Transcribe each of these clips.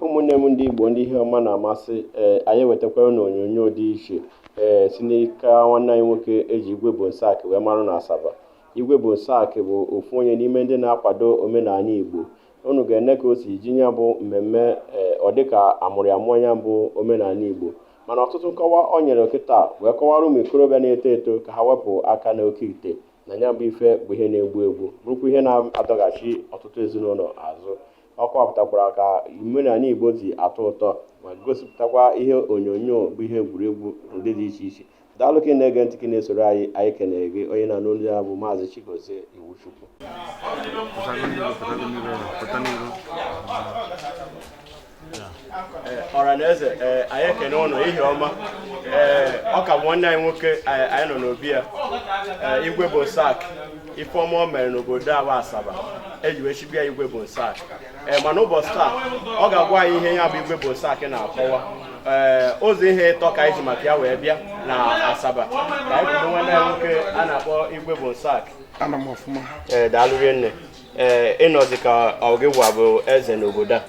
ụmụnne m ndị Igbo ndị ihe ọma na-amasị ee anyị ewetakwara na onyonyo dị iche ee si n'aka nwanne anyị nwoke eji igwe Bonsaac wee marụ na Asaba igwe Bonsaac bụ ofu onye n'ime ndị na-akwado omenala Igbo unu ga-ene ka o si ji ya bụ mmemme ee ọ dịka amụrụ ya mụọ ya bụ omenala Igbo mana ọtụtụ nkọwa o nyere kịta wee kọwara ụmụ ikorobịa na-eto eto ka ha wepụ aka n'oke ite na ya bụ ife bụ ihe na-egbu egbu bụrụkwa ihe na-adọghachi ọtụtụ ezinụlọ azụ ọ kọwapụtakwara ka omenala Igbo ji atọ ụtọ ma gosipụtakwa ihe onyonyo bụ ihe egwuregwu ụdị dị iche iche daalụ ka ị na-ege ntị ka ị na-esoro anyị anyị kenere gị onye na-anụ olu ya bụ maazị Chigozie Iwuchukwu Eh, ọra na eze eh, anyị ekene unu ihe ọma ee eh, ọ ka bụ nwanne anyị nwoke anyị nọ n'obi ya igwe Bonsaac ife ọma o mere n'obodo a bụ Asaba eji wee chibe ya igwe Bonsaac ee mana ụbọchị taa ọ ga-agwa anyị ihe ya bụ igwe Bonsaac na-akọwa ee ụzọ ihe ịtọ ka anyị ji maka ya wee bịa na Asaba ka anyị kwudo nwanne anyị nwoke a na-akpọ igwe Bonsaac anọ m ọfụma ee daalụ rinne ee eh, ị nọzi ka ọ gịwa bụ eze n'obodo a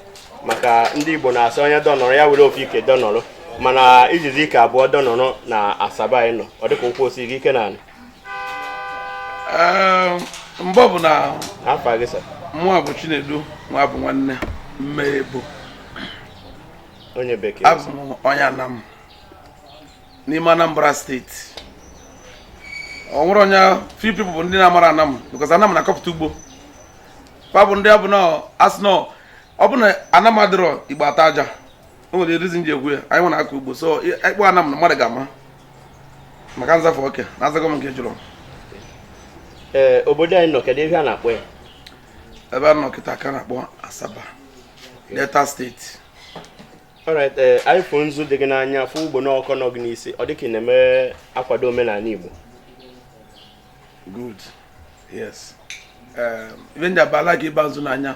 maka ndị Igbo na-asị onye dọnọrọ ya were ofu ike dọnọrọ mana i jizi ike abụọ dọnọrọ na Asaba anyị nọ ọ dịka ụkwụ siri gị ike na anị eh, mgbe ọbụna afa gị sa mụa bụ Chinedu Nwabụnwanne Mmebo onye bekee abụ m onye Anam n'ime Anambra State o nwere only few people bụ ndị na-amara Anam because Anam na-akọpụta ugbo fa bụ ndị ọ bụ na a sị na ọ bụ na Anam adịrọ Igbo ata aja o nwere reason ji ekwu ya anyịnwa na-akọ ugbo so ị kpọọ Anam na mmadụ ga-ama maka nzafe oke na azago m nke ị jụrụ ee obodo anyị nọ kedu ebe a na-akpọ ya ebe a nọ kịta ka a na-akpọ Asaba Delta State alright ee eh, anyị fụ nzu dị gị n'anya fụ ugbo n'ọkọ nọ gị n'isi ọ dịka ị na-eme akwado omenala Igbo good yes eh, every day ọbụla ka ị ba nzu n'anya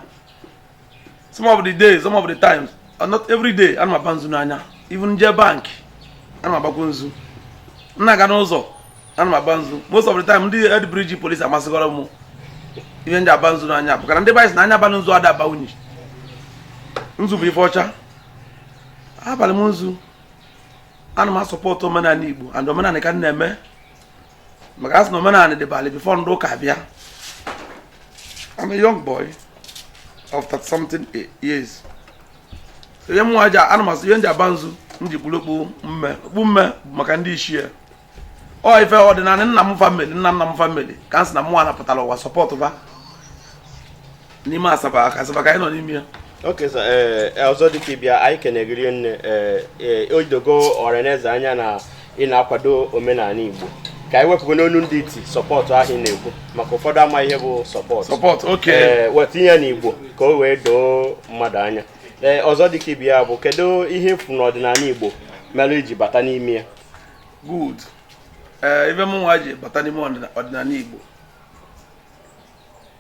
some of the days some of the times uh, not every day ana m aba nzu n'anya even jee bank ana m agbakwa nzu m na-aga n'ụzọ ana m aba nzu most of the time ndị Head Bridge police amasịgoro m ihe m ji aba nzu n'anya because na ndị be anyị sị na anya abalị nzu ada aba unyi nzu bụ ife ọcha abalị m nzu ana m asọpọtụ omenala Igbo and omenala ka m na-eme maka asị na omenala dịbalị before ndị ụka bịa I'm a young boy of 30 something years so ihe mụnwa ji ana m asị ihe m ji aba nzu m ji kpuru okpu mme okpu mme bụ maka ndị ichie ọ ife ọdịnala nna m family nna nna m family ka m si na mụwa pụtara ụwa support ba n'ime asaba asaba ka anyị nọ n'ime ya okay sir ee eh, ọzọ dịka ibe ya anyị kene gị rinne ee eh, eh, o dogo ọhaneze anya na ị na-akwado omenala igbo ka anyị wepụgo n'onu ndị iti support ahụ ị na-ekwu maka ụfọdụ ama ihe bụ support support okay ee weta ya na igbo ka o wee doo mmadụ anya ee ọzọ dịka ibe ya bụ kedu ihe ị fụ n'ọdịnala igbo mere i ji bata n'ime ya good ee ife mụnwa ji bata n'ime ọdịnala Igbo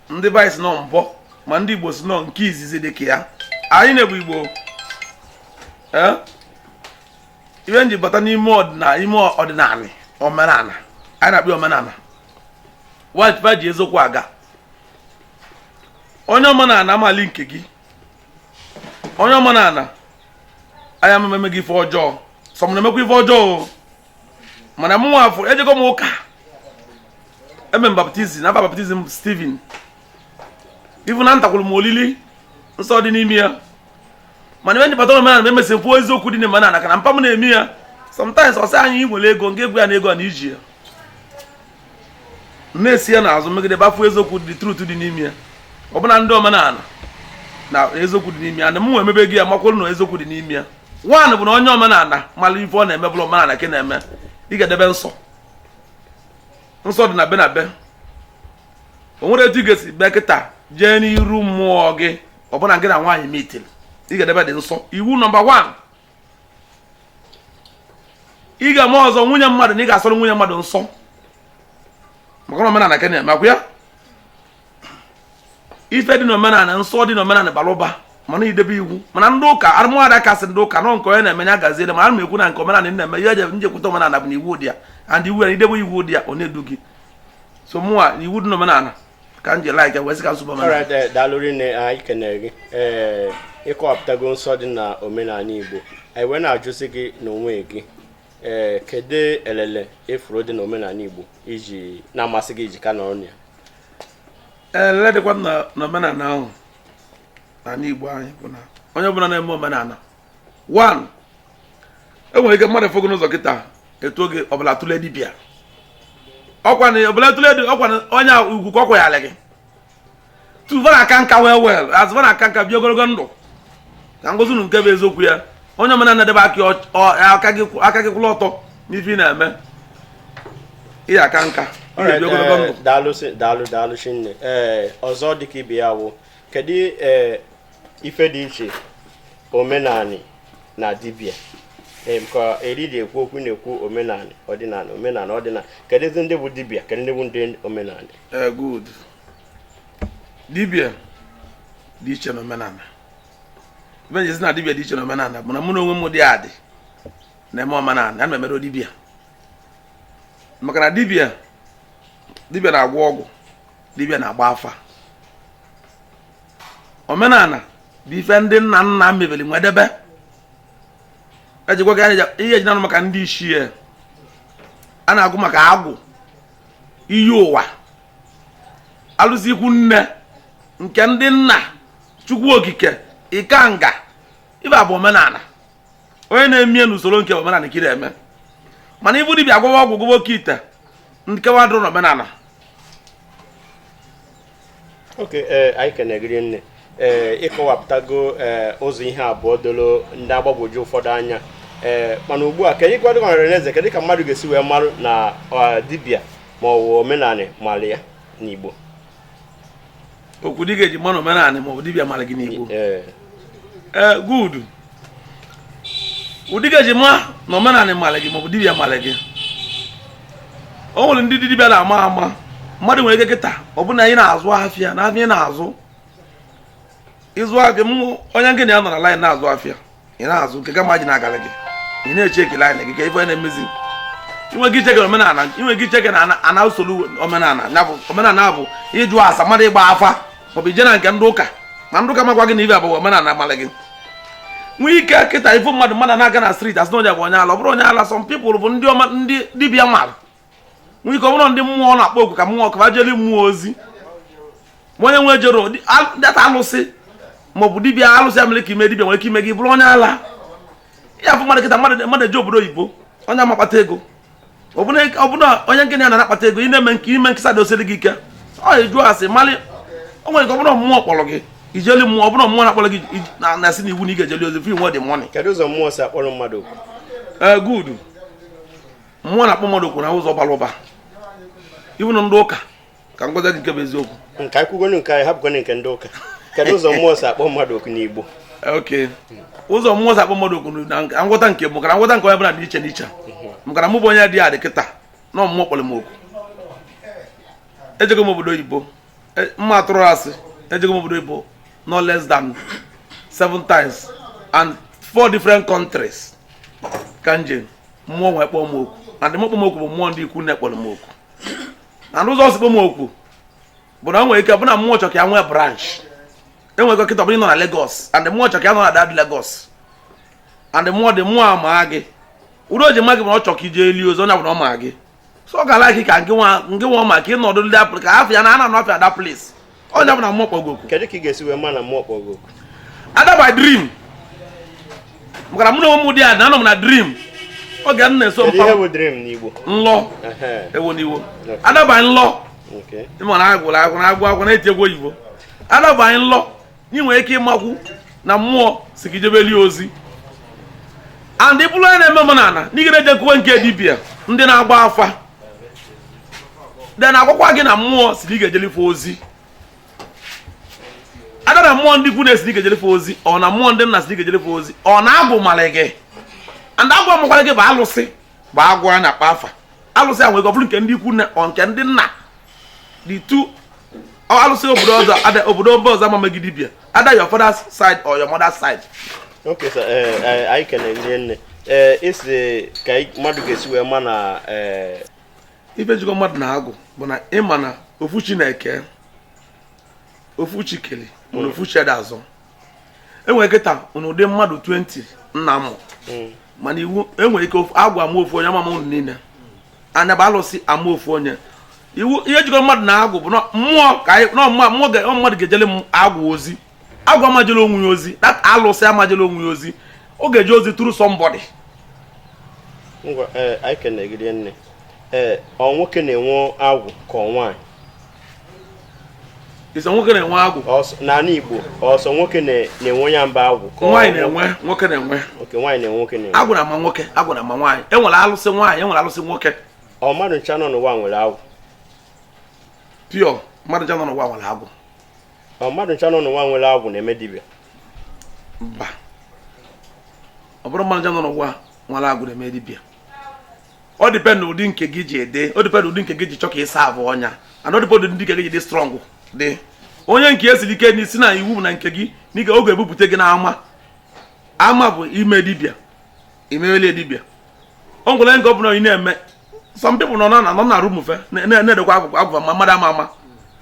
ndị be anyị sị nọmba 1 ndị Igbo sị na ọ nke izizi dị ka ya anyị na-ekwu Igbo ee ife m ji bata n'ime ọdịnala omenala anyị na-akpọ omenala wa ji va ji eziokwu aga onye omenala ama eli nke gị onye omenala aya ememe gị ife ọjọọ sọ ma na i mekwa ife ọjọọ mana mụnwa ị fụ ejego m ụka eme m baptism afa baptism Steven even anatakwuru m olili nsọ dị n'ime ya mana ife m ji bata omenala emesi kwuo eziokwu dị n'omenala maka na mpa m na-eme ya sometimes ọ sị anyị nwere ego nke egwu ya na ego a na iji ya na-esi ya n'azụ megide va fụ eziokwu dị truth dị n'ime ya ọ bụ na ndị omenala na eziokwu dị n'ime ya na mụnwa emebe gị ya makwụrụ na eziokwu dị n'ime ya one bụ na onye omenala mara ife ọ na-eme bụrụ omenala ka ọ na-eme ị ga-edebe nsọ nsọ dị na be na be o nwere etu ị ga-esi bịa kịta jee n'iru mmụọ gị ọ bụ na gị na nwaanyị meet ị ga-edebe the nsọ iwu nọmba 1 ị ga-eme ọzọ nwunye mmadụ na ị ga-asọrọ nwunye mmadụ nsọ maka na omenala ka ị na-eme ọ kwa ya ife dị n'omenala nsọ dị n'omenala bara ụba mana ị debe iwu mana ndị ụka arụmụada kasị ndị ụka nọ nke onye na-eme ya gaziere ma ana m ekwu na nke omenala na-eme ihe m ji jekwute omenala bụ na iwu dị ya and iwu ya ị debe iwu dị ya ọ na-edu gị so mụwa iwu dị n'omenala ka m ji like wee sị ka m sobe omenala Alright, eh, daalụ rinne anyị kenere gị ee ị kọwapụtago nsọ dị na omenala igbo anyị wee na-ajụzi gị n'onwe gị ee kedu elele ị fụrụ dị na omenala igbo o ji na-amasị gị i ji ka nọrọ na ya elele dịkwanụ na omenala ahụ n'ala igbo anyị bụ na onye ọbụla na-eme omenala one o nwere ike mmadụ fụ gị n'ụzọ kịta etuo gị ọbụla tụle dibịa ọkwa na ọbụla tụle dị ọkwa na onye ugwu ka ọ kwanyere gị two va na-aka nka wee well as va na-aka nka bie ogologo ndụ ka m gwazie unu nke bụ eziokwu ya onye omenala debe aka gị kwụlụ ọtọ n'ife ị na-eme ị ya-aka nka daalụ daalụ daalụ rinne ee ọzọ dịka ibe ya wụ kedu eh, ife dị iche omenani na dibia Ee, ka eri dị ekwu okwu na-ekwu omenani ọdịnala omenala ọdịnala keduzi ndị bụ dibia kedu ndị bụ ndị omenala Eh, good dibia dị iche na omenani ife m ji asị na dibia dị iche na omenani bụ na mụ na onwe m dị adị na-eme omenani ana m emere dibia maka na dibia dibia na-agwọ ọgwụ dibịa na-agba afa omenala bụ ife ndị nna nna mebeli wee debe ejikwa ihe eji na-anụ maka ndị ichie a na-ekwu maka agwụ iyi ụwa alụsị ikwu nne nke ndị nna chukwu okike ikenga ife a bụ omenala onye na-eme ya n'usoro nke omenala ka ị na-eme mana ịbụ dibịa agwọwa ọgwụ gwọwa oke ite nke nwa adịrọ n'omenala okay eh, anyị kenee gị rinne ee eh, ịkọwapụtago eh, ụzọ ihe abụọ doro ndị agbagwoju ụfọdụ anya ee mana ugbu a ka anyị gwadị nwere n'eze kedụ ka mmadụ ga-esi wee marụ na dibịa ma ọ bụ omenala mara ya n'Igbo okay ụdị ị ga-eji ma na omenala ma ọ bụ dibịa mara gị n'igbo ee eh, good ụdị ị ga-eji ma na omenala mara gị ma ọ bụ dibịa mara gị o nwere ndị dibịa na-ama ama mmadụ nwere ike kịta ọ bụrụ na ị na-azụ afịa na afịa ị na-azụ ịzụ afịa onye gị na ya nọ na line na-azụ afịa ị na-azụ nke gị ama ji na-agara gị ị na-echeck line gị ka ife na-emezi i nwee ike icheck omenala i nwee ike icheck na ana usoro omenala ya bụ omenala bụ ịjụ ase mmadụ ịgba afa maọbụ ije na nke ndị ụka ma ndị ụka ma-agwa gị na ife a bụ omenala malị gị nwee ike kịta ị fụ mmadụ mmadụ na-aga na street asị na onye a bụ onye ala ọ bụrọ onye ala some people bụ ndị dibịa mara nwere ike ọ bụrụ ndị mmụọ na-akpọ oku ka mmụọ ka fa jeli mmụọ ozi ma onye nwa jerọ data alụsị maọbụ dibia alụsị ya mere ka ime dibia nwere ike ime gị bụrụ onye ala ị ya-afụ mmadụ kịta mmadụ eje obodo oyibo onye a ma-akpata ego ọbụna onye nke ya na-akpata ego ị na-eme nke ime nkesa dị o siri gị ike ọ jụọ ase malị o nwere ike ọ bụrụ mmụọ kpọrọ gị ijeli mmụọ ọ bụrụ mmụọ na-akpọrọ gị na-asị na iwu na ị ga-ejeli ozi fi nwe dị money kedu ụzọ mmụọ si akpọrọ mmadụ oku good mmụọ na-akpọ mmadụ oku na ụzọ bara ụba ị fụ na ndị ụka ka m gwazi gị nke bụ eziokwu ka anyị kwugodu nke anyị hapụgodu nke ndị ụka kedu ụzọ mmụọ si akpọ mmadụ oku n'igbo ok ụzọ mmụọ si akpọ mmadụ oku na nka- nghọta nke mụ makana nghọta nke onye bụla dị iche n'iche makana mụ bụ onye dị adị kịta na mmụọ kpọrọ m oku ejego m obodo oyibo E- m ma-atụrụ asị ejego m obodo oyibo no less than seven times and four different countries ka m je mmụọ wee kpọọ m oku and ndị kpọ m oku bụ mmụọ ndị ikwu nne kpọrọ m oku and ụzọ o si kpọ m oku bụ na o nwere ike bụ na mmụọ chọ ka ya nwee branch i nwere ike kịta bụrụ nọ na Lagos and mmụọ chọ ka ị nọ na that Lagos and mmụọ the mmụọ ama gị uru o ji ma gị bụ na ọ chọ ka i jeeli ozi onye ọbụna ọ ma gị so ọ ga-ala gị ka nke nwa maka ịnọdụ ndị apụl ka afọ ya na ana nọfịa either place onye ọbụna mmụọ kpọgo oku kedu ka ị ga-esi wee ma na mmụọ kpọgo oku either by dream maka mụ na onwe m dị ada anọ m na dream oge m na-eso mpa nlọ ewo n'Igbo either by nlọ ị ma na agwụrụ agwụ na agwụ agwụ na-eti egwu oyibo either by nlọ ị nwere ike ịmakwu na mmụọ sị gị jebeli ozi and ị bụrụ onye na-eme omenala na ị ga na-ejekwuwe nke dibia ndị na-agba afa then a gwakwa gị na mmụọ sị na ị ga-ejeli fa ozi either na mmụọ ndị ikwu nne sị na ị ga-ejeli fa ozi or na mmụọ ndị nna sị na ị ga-ejeli fa ozi or na agwụ mara gị and agwụ amakwara gị bụ alụsị bụ agwụ a na-akpọ afa alụsị a nwere ike ọ bụrụ nke ndị ikwu nne or nke ndị nna the two or alụsị obodo ọzọ either obodo mba ọzọ ama mee gị dibịa either your father's side or your mother's side Okay, sir. Eh, eh, anyị kenere gị rinne ee esi ka anyị- mmadụ ga-esi wee ma na ee ife jikọ mmadụ na agwụ bụ na ị ma na ofu chi na-eke ofu chi kele mana ofu chi ada azọ e nwere ike kịta unu dị mmadụ 20 nna mụ hmm. mana iwu e nwere ike agwụ ama ofu onye ọ ma ma unu niile nya bụ alụsị ama ofu onye iwu ihe jikọ mmadụ na agwụ bụ mmụọ ka mmụọ mmadụ ga-ejele agwụ ozi agwụ ama-ejele onwe ya ozi that alụsị ama-ejele onwe ya ozi ọ ga-eje ozi through somebody ngwa ee eh, anyị kene gị rinne ee eh, ọ nwoke na-enwe agwụ ka ọ nwaanyị Ị sị ọ nwoke na-enwe agwụ. N'ala Igbo, ọ sọ nwoke na-enwe ya? Mba, agwụ. Nwaanyị na-enwe, nwoke na-enwe. Okay nwaanyị na-enwe nwoke na-enwe. Agwụ na-ama nwoke, agwụ na-ama nwaanyị. E nwere alụsị nwaanyị, e nwere alụsị nwoke. Ọ mmadụ ncha nọ n'ụwa nwere agwụ. Pure, mmadụ ncha nọ n'ụwa nwere agwụ. Ọ mmadụ ncha nọ n'ụwa nwere agwụ na-eme dibịa. Mba. Ọ bụrọ mmadụ ncha nọ n'ụwa nwere agwụ na-eme dibịa. ọ depend ụdị nke gị ji dị ọ depend ụdị nke gị ji chọ ka ị serve nya and ọ depend ụdị nke gị ji dị strong dị onye nke ya siri ike n'isi na iwu na nke gị nwere ike ọ ga-ebupụta gị n'ama ama bụ ime dibịa imewele dibịa o nwere nke ọ bụla ị na-eme some people nọ na nọ na room fa na-edekwa agwụ fa ma mmadụ ama ama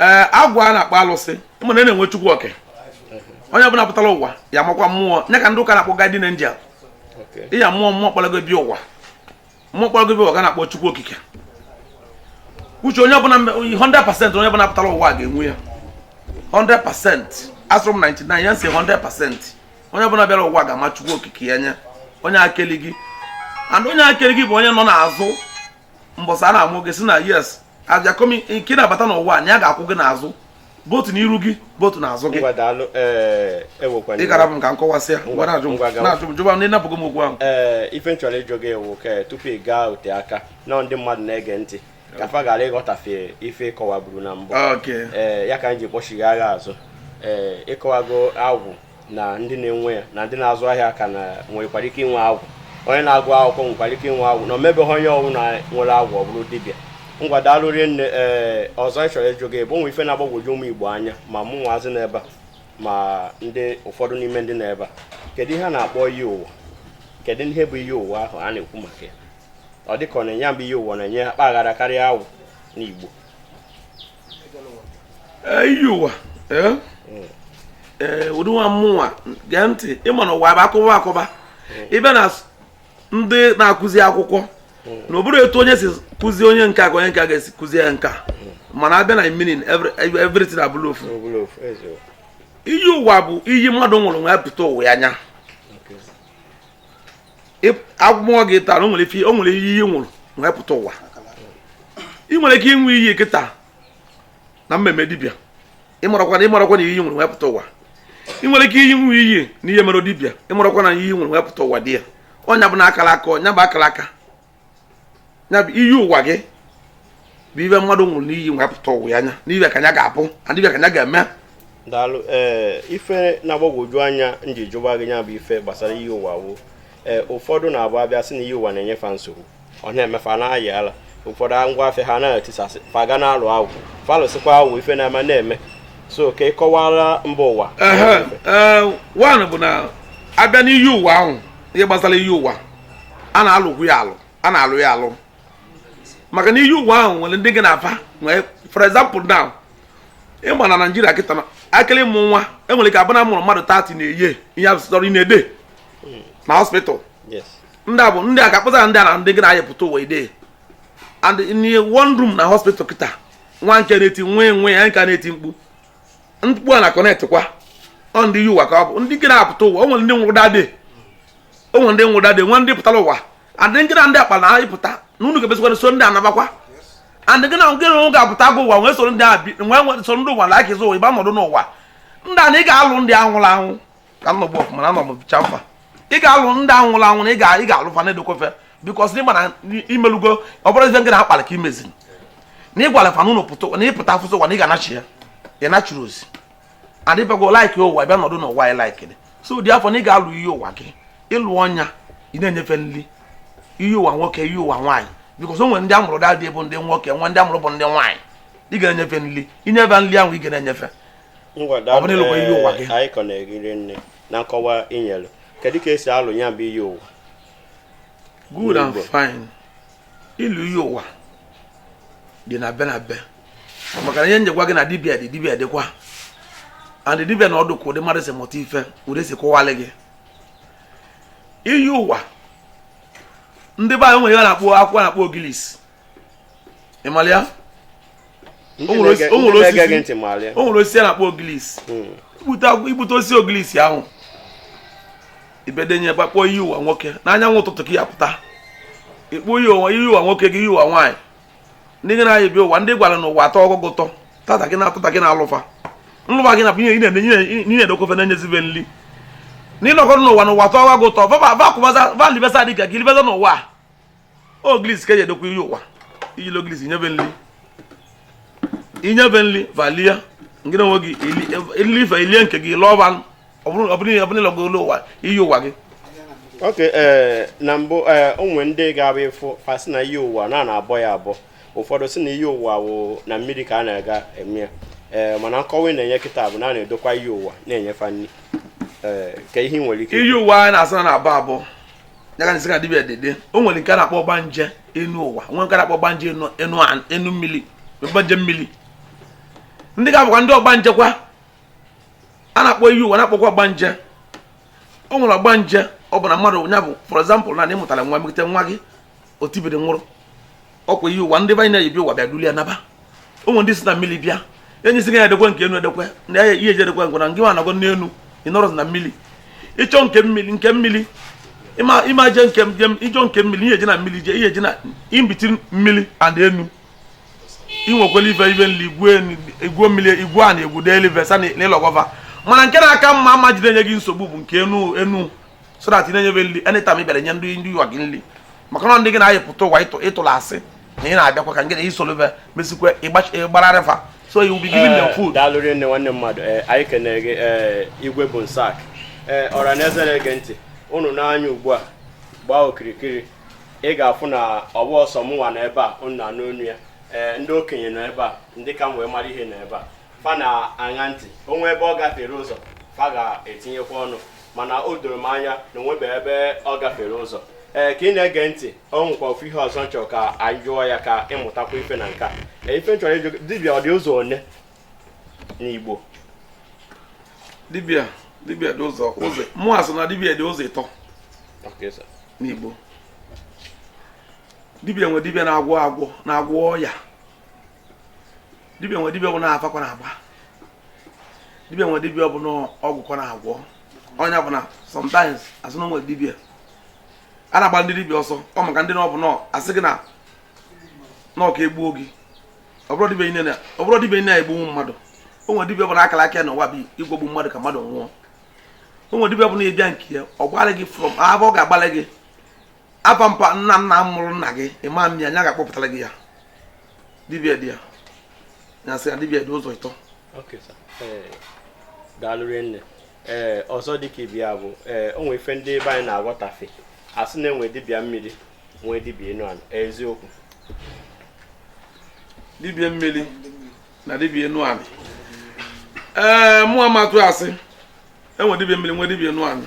ee agwụ a na-akpọ alụsị ịma na a na-enwe chukwu oke onye ọbụla pụtara ụwa ya makwa mmụọ nya ka ndị ụka na-akpọ guardian angel ịya mmụọ mmụọ kpọrọ gị bịa ụwa mmụọ kpọrọ gị bịa ụwa ka a na-akpọ chukwu okike uche onye ọbụla 100% onye ọbụla pụtara ụwa ga-enwe ya 100% asịrọ m 99 ya m sị 100% onye ọbụla bịara ụwa ga-ama chukwu okike ya nya onye keli gị and onye keli gị bụ onye nọ n'azụ mbọsị a na-amụ gị sị na yes abịa komi nke ị na-abata n'ụwa na ya ga-akwụ gị n'azụ both n'iru gị both n'azụ gị eh, e ị gara m ka m kọwasịa mgbe na-ajụ m na-ajụ m jụba m na ị napụgo m okwu ahụ ee eh, ife m chọrọ ịjụ gị ewu ka eh, tupu ị gaa ote aka na ndị mmadụ na-ege ntị ka fa ghara ịghọtafe ife ị kọwaburu na mbụ ee ya ka m ji kpọchighaa gị azụ ee ị kọwago agwụ na ndị na-enwe ya na ndị na-azụ ahịa ka na nwekwara ike inwe agwụ onye na-agụ akwụkwọ nwekwara ike inwe agwụ na o mebeghị onye ọwụna nwere agwụ ọ bụrụ dibịa ngwa daalụ rinne ee ọzọ m chọrọ ịjụ gị bụ o nwe ife na-agbagwoju ụmụ igbo anya ma mụnwazị n'ebe a ma ndị ụfọdụ n'ime ndị n'ebe a kedu ihe a na-akpọ iyi ụwa kedu ihe bụ iyi ụwa ahụ a na-ekwu maka ya ọ dịka na nya bụ iyi ụwa na-enye akpa aghara karịa agwụ n'igbo iyi ụwa ee ụdị nwa mụnwa gee ntị ịma na ụwa bụ akọba akọba ị bịa na ndị na-akụzi akwụkwọ na ọ bụrọ etu onye si kụzie onye nka ka onye nka ga-esi kụzie ya nka mana abịa na meaning everything abụlụ ofu iyi ụwa bụ iyi mmadụ nwụrụ wee pụta ụwa ya anya agwa m gị tara o nwere ife o nwere iyi ị nwụrụ wee pụta ụwa ị nwere ike ịnwụ iyi kịta na mmemme dibịa ịmarakwa na ịmarakwa na iyi nwụrụ wee pụta ụwa ị nwere ike ịnwụ iyi na ihe mere dibịa ịmarakwa na iyi nwụrụ wee pụta ụwa dị ya ọ nya bụ na akara aka ọ nya bụ akara aka ya bụ iyi ụwa gị bụ ive mmadụ nwụrụ n'iyi wee pụta ụwa ya anya na ive ka ya ga-abụ adịbe ka ya ga-eme daalụ ee eh, ife na-agbagwoju anya m ji jụba gị ya bụ ife gbasara iyi ụwa woo ee eh, ụfọdụ na-abụ abịa sị na iyi ụwa na-enyefa nsogbu ọ na-emefa na-ayị ala ụfọdụ ngwa afịa ha na-etisasị fa ga na-alụ agwụ fa lụsịkwa agwụ ife na-ama na-eme so ka ị kọwara mba ụwa eh, one bụ na abịa n'iyi ụwa ahụ ihe gbasara iyi ụwa a na-alụkwu ya alụ a na-alụ ya alụ maka na iyi ụwa ahụ nwere ndị gị na va nwee for example now ị bịa na naijiria kịta na akịrị mụ nwa enwere ike abụ na mụrụ mmadụ 30 na-eye ihe asụsọrọ na-ede na hospital ndị a bụ ndị a ga-akpụzara ndị a na ndị gị na-ayepụta ụwa ide and in one room na hospital kịta nwa nke na-eti nwa enwe ya nke na-eti mkpu mkpu a na connect kwa ọ ndị iyi ụwa ka ọ bụ ndị gị na-apụta ụwa o nwere ndị nwụrụ that day o nwe ndị nwụda dị nwe ndị pụtara ụwa adị nkịta ndị akpa na anyị pụta na unu ga-ebezikwara so ndị anabakwa and gị na nke na ga-apụta gụ ụwa nwee soro ndị abi nwee soro ndị ụwa like ụwa bịa nọdụ n'ụwa ndị a na ị ga-alụ ndị anwụrụ anwụ ka m nọgbu ọfụma na anọ m bicha mfa ị ga-alụ ndị anwụrụ anwụ na ị ga-alụ fa na-edokwa fa because ị ma na i melugo ọ bụrụ ife nke na-akpali ka imezi na ị gwara fa n'ụlọ pụta na ị pụta afụsụ ụwa na ị ga-anachi ya ị nachiri ozi adịbago like ụwa bịa nọdụ n'ụwa anyị like dị so therefore na ị ga-alụ iyi ụwa gị ịlụ ọnya ị na-enye fa nri iyi ụwa nwoke iyi ụwa nwaanyị because o nwere ndị amụrụ dadị bụ ndị nwoke nwe ndị amụrụ bụ ndị nwaanyị ị ga-enye fa nri i nye fa nri ahụ ị ga na-enye fa ọ bụrụ ịlụkwa iyi ụwa gị anyị kọ na-egiri nne na nkọwa i nyere kedu ka e si alụ ya bụ iyi ụwa good and fine ịlụ iyi ụwa dị na be na be maka na ihe m ji agwa gị na dibia dị dibia dịkwa and dibia na ọ dụ ka ụdị mmadụ si mụta ife ụdị si kọwalị gị iyi ụwa ndị be anyị nwere ihe a na-akpọ akwụkwọ a na-akpọ ogilisi ị malị ya o nwere osisi a na-akpọ ogilisi hmm. i bute osisi ogilisi ahụ ibedenye gbakpọ iyi ụwa nwoke n'anyanwụ ụtụtụ ka ya pụta ị kpọọ iyi ụwa iyi ụwa nwoke gị iyi ụwa nwaanyị ndị gị na ha yi bịa ụwa ndị ị gwara na ụwa atọgo gị ụtọ tata gị na-atụta gị na-alụ fa nlụ fa gị na-edokwa fa na-enyezi ve nri na ị nọkọrọ n'ụwa na ụwa atọgo gị ụtọ va libesa dịka gị libesa n'ụwa ogilisi ka e ji edokwa iyi ụwa i ji ogilisi nye ve nri i nye ve nri va lie ngị onwe gị ili ife i lie nke gị lụọ va ọ bụrụ ị lụgo olu ụwa iyi ụwa gị ok eh, na mbụ eh, o nwe ndị ga-abụ ị fụ fa sị na iyi ụwa na na-abọ ya abọ ụfọdụ si na iyi ụwa wụ na mmiri ka a na-aga eme ya eh, mana nkọwa ị na-enye kịta bụ na a na-edokwa iyi ụwa na-enye fa nri ka ihe nwere ike iyi ụwa anyị na-asị a na-abọ abọ ya ka m sị ka dibịa dede o nwere nke a na-akpọ ọgbanje enu ụwa nwere nke a na-akpọ ọgbanje enu enu an- enu mmiri ọgbanje mmiri ndị ka bụkwa ndị ọgbanje kwa a na-akpọ iyi ụwa na-akpọkwa ọgbanje o nwere ọgbanje ọ bụ na mmadụ ya bụ for example na na ị mụtara nwa mekete nwa gị o tibiri nwụrụ ọ kwa iyi ụwa ndị va na ya yi bịa ụwa bịa duli ya naba o nwere ndị si na mmiri bịa enyi si ga edekwe nke enu edekwe na ya ihe eji edekwe ngwa na ngị nwa nọgọ n'enu ị nọrọ na mmiri ịchọ nke mmiri nke mmiri ịma je nke ịchọ nke mmiri ihe eji na mmiri je ihe eji na imbiti mmiri and enu inwekwala ife ife nri igwuo mmiri igwu a na egwu deelive sa na ị lụgo va mana nke na-aka mma ama jide enye gị nsogbu bụ nke enu enu so that ị na-enye fa nri anytime ị bịara nye ndị ndị ụwa gị nri maka na ndị gị na fa yi pụta ụwa ị tụrụ asị na ị na-abịakwa ka nke na i solo fa mesịkwa ị gbarara fa so you will be giving them eh, food. daalụ rinne nwanne mmadụ eh, anyị kenere gị eh, Igwe Bonsac ọra na eze na-ege ntị unu nee anya ugbu a gbaa okirikiri ị ga-afụ na ọ bụrọ sọ mụnwa nọ ebe a unu na-anụ onu ya ee ndị okenye nọ ebe a ndị ka m wee mara ihe nọ ebe a fa na-aṅa ntị o nwee ebe ọ gafere ụzọ fa ga-etinyekwa ọnụ mana o doro m anya na o nwebeghị ebe ọ gafere ụzọ ee ka ị na-ege ntị ọ nwekwa ofu ihe ọzọ m chọrọ ka anyị jụọ ya ka ị mụtakwa ife na nka ee ife m chọrọ ịjụ dibịa ọ dị ụzọ one n'Igbo dibịa dibịa dị ụzọ ụzọ mụ asị na dibịa dị ụzọ ịtọ n'Igbo dibịa nwe dibịa na-agwọ agwọ na-agwọ ọya dibịa nwe dibịa bụ na afa ka ọ na-agba dibia nwere dibia ọ bụ na ọgwụ ka ọ na-agwọ ọ nya bụ na sometimes a sị na e nwere dibia a na-agba ndị dibia ọsọ ọ maka ndị na ọ bụ na a sị gị na n'ọka egbuo gị ọ bụrọ dibia niile ọ bụrọ dibia niile egbunwu mmadụ o nwere dibia ọ bụ na akara aka ya na ụwa bụ ịgwọgbu mmadụ ka mmadụ nwụọ o nwere dibia ọ bụ na ị bịa nke ya ọ gbalị gị from afa ọ ga-agbalị gị afa mpa nna nna mụrụ nna gị ị maghị ya nya ga-akpọpụtara gị ya dibia dị ya na sị na dibia dị ụzọ ịtọ eh, daalụ rinne ee eh, ọzọ dịka ibe ya bụ ee eh, o nwere ife ndị ebe anyị na-aghọtafe a sị na e nwe dibịa mmiri nwee dibịa enu ala eziokwu dibịa mmiri na dibịa enu ala ee mụ amatụ a sị e nwe dibịa mmiri nwee dibịa enu ala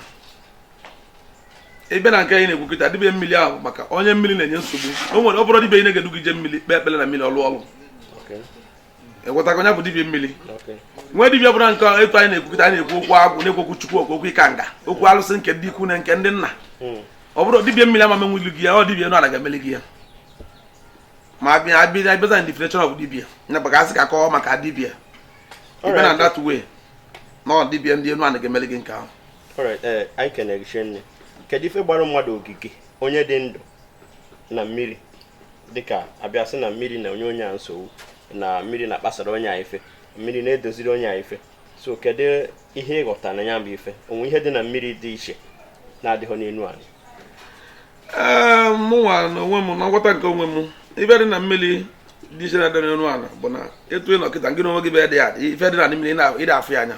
ị bịa na nke anyị na-ekwu kịta dibịa mmiri na-ahụ maka onye mmiri na-enye nsogbu o nwere ọ bụrọ dibịa niile ga-edu gị je mmiri kpee ekpere na mmiri ọ lụọ ọlụ ị ghọtago onye bụ dibịa mmiri nwee dibịa bụrụ nke etu anyị na-ekwu kịta anyị na-ekwu okwu agwụ na-ekwu okwu chukwu okwu okwu ikenga okwu alụsị nke ndị ikwu na nke ndị nna hmm. ọ bụrụ dibịa mmiri ama emenwulu gị ya ọ dibịa enu ala ga-emeli gị ya ma abịa abịa abịaza na definition of dibịa nya bụ ka a sị ka a kọọ maka dibịa ị bịa na that way na ọ dibịa ndị enu ala ga-emeli gị nke ahụ Eh, anyị kenere gị rinne kedu ife gbara mmadụ ogige onye dị ndụ na mmiri dịka a bịa sị na mmiri na-enye onye a nsogbu na mmiri na-akpasara onye a ife mmiri na-edoziri onye a ife so kedu ihe ị ghọta na ya bụ ife o nwere ihe dị na mmiri dị iche na-adịghị n'elu anị eh, mụnwa na onwe m na nghọta nke onwe m ife dị na mmiri dị iche na-adị n'elu ala bụ na etu ị nọ kịta gị na onwe gị bụ ife dị na mmiri ị da afụ ya anya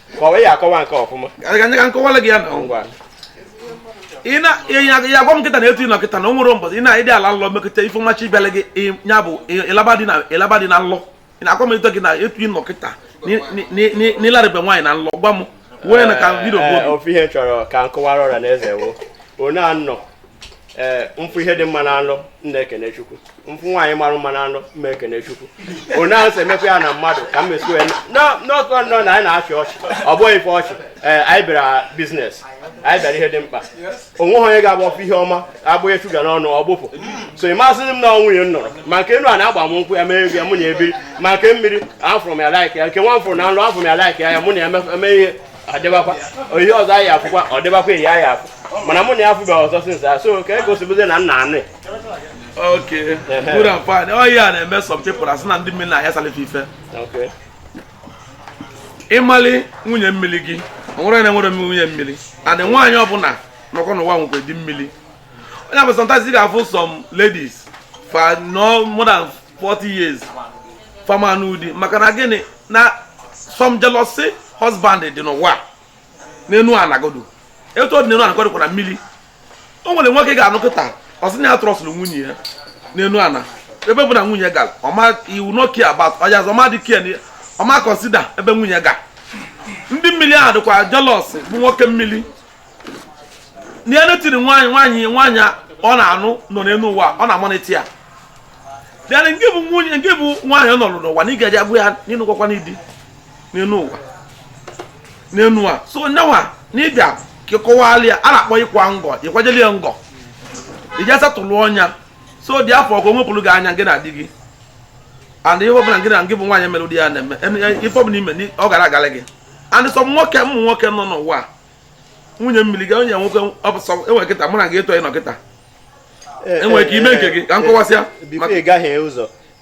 kọwa ya akọwa nke ọfụma anyị ka m kọwala gị ya na ngwa ị na ya agwa m kịta na etu ị nọ kịta na o nwere mbọsị ị na-ịdị ala nlọ mekọta ife mmachi ịbịala gị ya bụ ịlaba di na nlọ ị na-agwa m etu gị na etu ị nọ kịta n'ịlarịbe nwaanyị na nlọ gwa m wee na ka vidio bụ ofu ihe chọrọ ka m kọwara ọra na eze wo onye anọ ee m fụ ihe dị mma na nlọ m na-ekene chukwu m fụ nwaanyị mara mma na nlọ m na-ekene chukwu onye ahụ si emekwa ya na mmadụ ka m mesi wee n'ọtụ nọ na anyị na-achị ọchị ọ bụghị ife ọchị ee anyị bịara business anyị bịara ihe dị mkpa onweghị onye ga-agba ọsọ ihe ọma agbụghị shuga n'ọnụ ọ gbụpụ so ị masịrị m na nwunye m nọrọ ma nke enu a na-agba m nkwụ ya mee ya mụ na ebiri ma nke mmiri afụrụ m ya like ya nke nwa m fụrụ na nlọ afụrụ m ya like ya ya mụ na ya eme ihe ọ dịbakwa oge ọzọ anyị afụkwa ọ dịbakwa eyi anyị afụ mana mụ na ya afụbeghị ọzọ since a so ka e gosibuzie na nna anyị okay good and fine ọ ihe a na-eme some people asị na ndị mmiri na-ayasalị fa ife ị mali nwunye mmiri gị onwere na enwere nwunye mmiri and nwaanyị ọbụla nọkọ n'ụwa nwekwa di mmiri onye bụ sometimes ị ga-afụ some ladies fa anọ more than 40 years fa ama anụ di maka na gịnị na some jealousy husband dị n'ụwa n'enu ana godu etu ọ dị n'enu ana ka ọ dịkwa na mmiri o nwere nwoke ga-anọ kịta ọ sị na ya trọstụrụ nwunye ya n'enu ana ebe ọbụna nwunye gara ọ ma he will not care about ọya azụ ọ ma dị care ọ ma consider ebe nwunye ga ndị mmiri ahụ dịkwa jealous bụ nwoke mmiri na ya tiri nwaanyị nwaanyị nwaanyị ọ na-anụ nọ n'elu ụwa ọ na-emonitor ya dịana nke bụ nwunye nke bụ nwaanyị ọ nụrụ n'ụwa na ị ga-eji agwa ya na ị nụgokwanụ di n'elu ụwa n'elu a so nyanwa na ịbịa ka ịkọwala ya a na-akpọ ịkwa ngọ ịkwajeli ya ngọ iji asettle ya so that ọ ga-ewepụrụ gị anya gị na di gị and ihe ọbụla gị na gị bụ nwaanyị mere ụdị ya na-eme ife ọbụla ime ọ ga na-agalị gị and so nwoke ụmụ nwoke nọ n'ụwa nwunye mmiri ka onye nwoke enwe kịta mụ na gị etu ị nọ kịta enwere eh, eh, ka ime nke gị ka m kọwasịa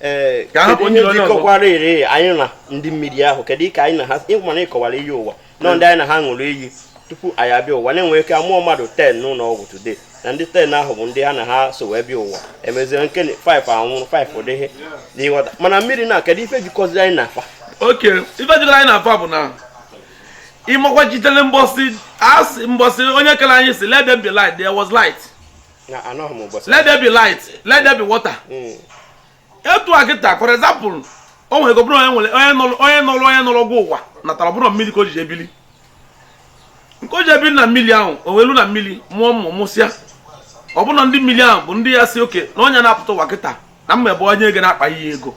eh, ka hapụ ndị onye ọzọ ire anyị na ndị mmiri ahụ kedu ka anyị na ha ị ma na ịkọwara iyi ụwa nọ ndị anyị na ha ṅụrụ iyi tupu anyị abịa ụwa na-enwe ike amụọ mmadụ ten n'ụlọ ọgwụ today na ndị ten ahụ bụ ndị ha na ha so wee bịa ụwa emezie nke 5 anwụrụ 5 adịrị ị na-aghọta mana mmiri na kedu ife jikọzi anyị na fa okay ife jikọrọ anyị na fa bụ na ị makwa sitere mbọsị asị mbọsị onye kere anyị sị let there be light there was light let there be light let there be water hmm. etu a kịta for example o nwere ike ọ bụrụ onye nọrọ gị ụwa natara ọ bụrụ mmiri ka o ji ebili nke o ji ebili na mmiri ahụ o welu na mmiri mụọ ụmụ mụsịa ọ bụrụ na ndị mmiri ahụ bụ ndị ya sị okay na onye na-apụta ụwa kịta na mmebe onye ga na-akpa ya ego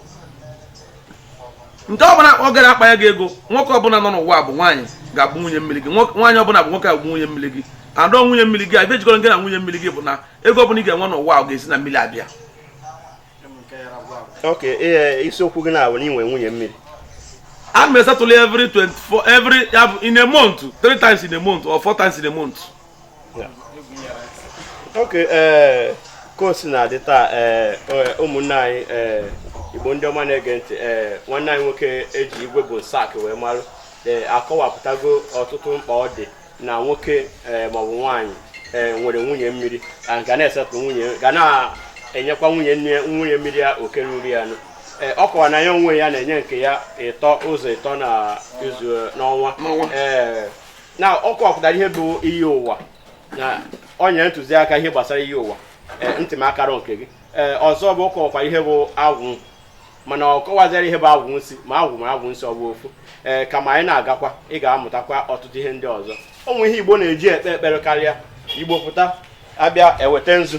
nke ọbụla ọ gara akpa ya gị ego nwoke ọbụla nọ n'ụwa bụ nwaanyị ga-abụ nwunye mmiri gị nwaanyị ọbụla bụ nwoke ga-abụ nwunye mmiri gị adọ nwunye mmiri gị ife jikọrọ gị na nwunye mmiri gị bụ na ego ọbụla ị ga-enwe n'ụwa ọ ga-esi na mmiri abịa ok e, isiokwu gị na-abụ na inwe nwunye mmiri a na-esettle every 24 every in a month three times in a month or four times in a month okay ee eh, ka o si na-adị taa ee eh, eh, ụmụnne anyị ee igbo ndị ọma na-ege ntị ee nwanne anyị nwoke eji Igwe Bonsac wee marụ ee akọwapụtago ọtụtụ mkpa ọ dị na nwoke ee maọbụ nwaanyị ee nwere nwunye mmiri ga na-esettle nwunye ga na-enyekwa nwunye nne nwunye mmiri ya oke ruru ya nụ Eh, ọ kọwara na ya onwe ya na-enye nke ya ịtọ ụzọ ịtọ na izu eh, n'ọnwa ee eh, na ọ kọwapụtara ihe bụ iyi ụwa na ọ nyere ntụziaka ihe gbasara iyi ụwa eh, ntị m akara nke gị eh, ọzọ bụ ọ kọwakwa ihe bụ agwụ mana ọ kọwazịara ihe bụ agwụ nsị ma agwụ ma agwụ nsị ọ bụ ofu ee eh, kama anyị na-agakwa ị ga-amụtakwa ọtụtụ ihe ndị ọzọ ụmụ ihe igbo na-eji ekpe ekpere karịa igbo pụta abịa eweta nzu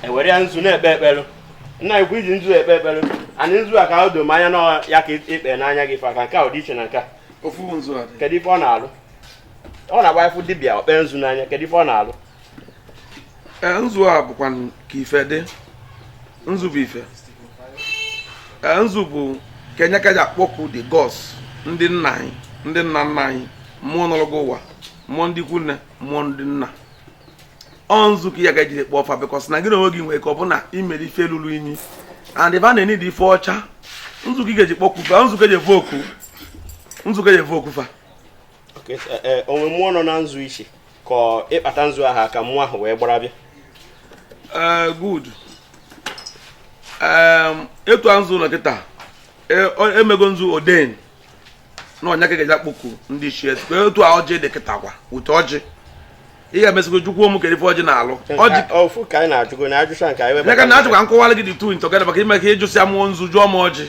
ewere ya nzu na-ekpe ekpere nna ikwu iji nzu ekpe ekpere anyị nzu a ka o doo m anya na ya ka ikpe n'anya gị fa ka nke a dị iche na nke a ofu nzu a kedu ife ọ na-alụ ọ na-abụ ị fụ dibịa o kpe nzu n'anya kedu ife ọ na-alụ e, nzu a bụkwa ka ife dị nzu bụ ife e, nzu bụ ka nya ka eji akpọku the gods ndị nna anyị ndị nna nna anyị mmụọ nọrọ gị ụwa mmụọ ndị ikwu nne mmụọ ndị nna ọ nzu ka ị ga-eji kpọọ fa because na gị na onwe gị nwere ike ọ bụ na i mere ife lụrụ inyi and ebe a na-enye dị ife ọcha nzu ka ị ga-eji kpọkwu fa nzu ka eji efe oku nzu ka eji efe oku fa e, e, o nwe mmụọ nọ na nzu ichi ka ịkpata nzu ahụ aka mmụọ ahụ wee gbara bịa e, good etu a nzu ụlọ kịta emego nzu oden na ọ nya ka a ga-eji akpọku ndị ichie otu a ọjị dị kịta kwa ụtọ ọjị ị ga-emesigo jụkwuo m kedu ife ọjị na-alụ ọjị ofu ka anyị na-ajụgo na ajụcha nke anyị webata naka na ajụkwa nkọwara gị the two together maka ime ka ị jụsịa mụ nzu jụọ m ọjị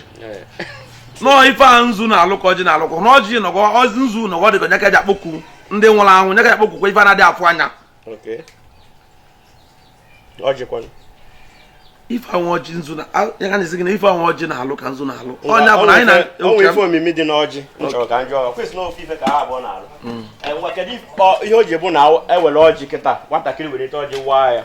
no ọ ife a nzu na-alụ ka ọjị na-alụ ka na ọjị nọgọ ọjị nzu nọgọ dị ka nya ka eji akpọku ndị nwụrụ anwụ nya ka eji akpọkukwa ife a na-adị afụ anya Okay. ọjịkwanụ ife anwụ ọjị nzu na ya ka m na-asị gị na ife anwụ ọjị na-alụ ka nzu na-alụ ọ nya bụ na anyị na-enwe ife omimi dị n'ọjị nchọrọ ka m jụọ question na ofu ife ka ha abụọ na-alụ hmm. e, kedu ihe o ji bụ na ewere ọjị kịta nwatakịrị were ite ọjị waa ya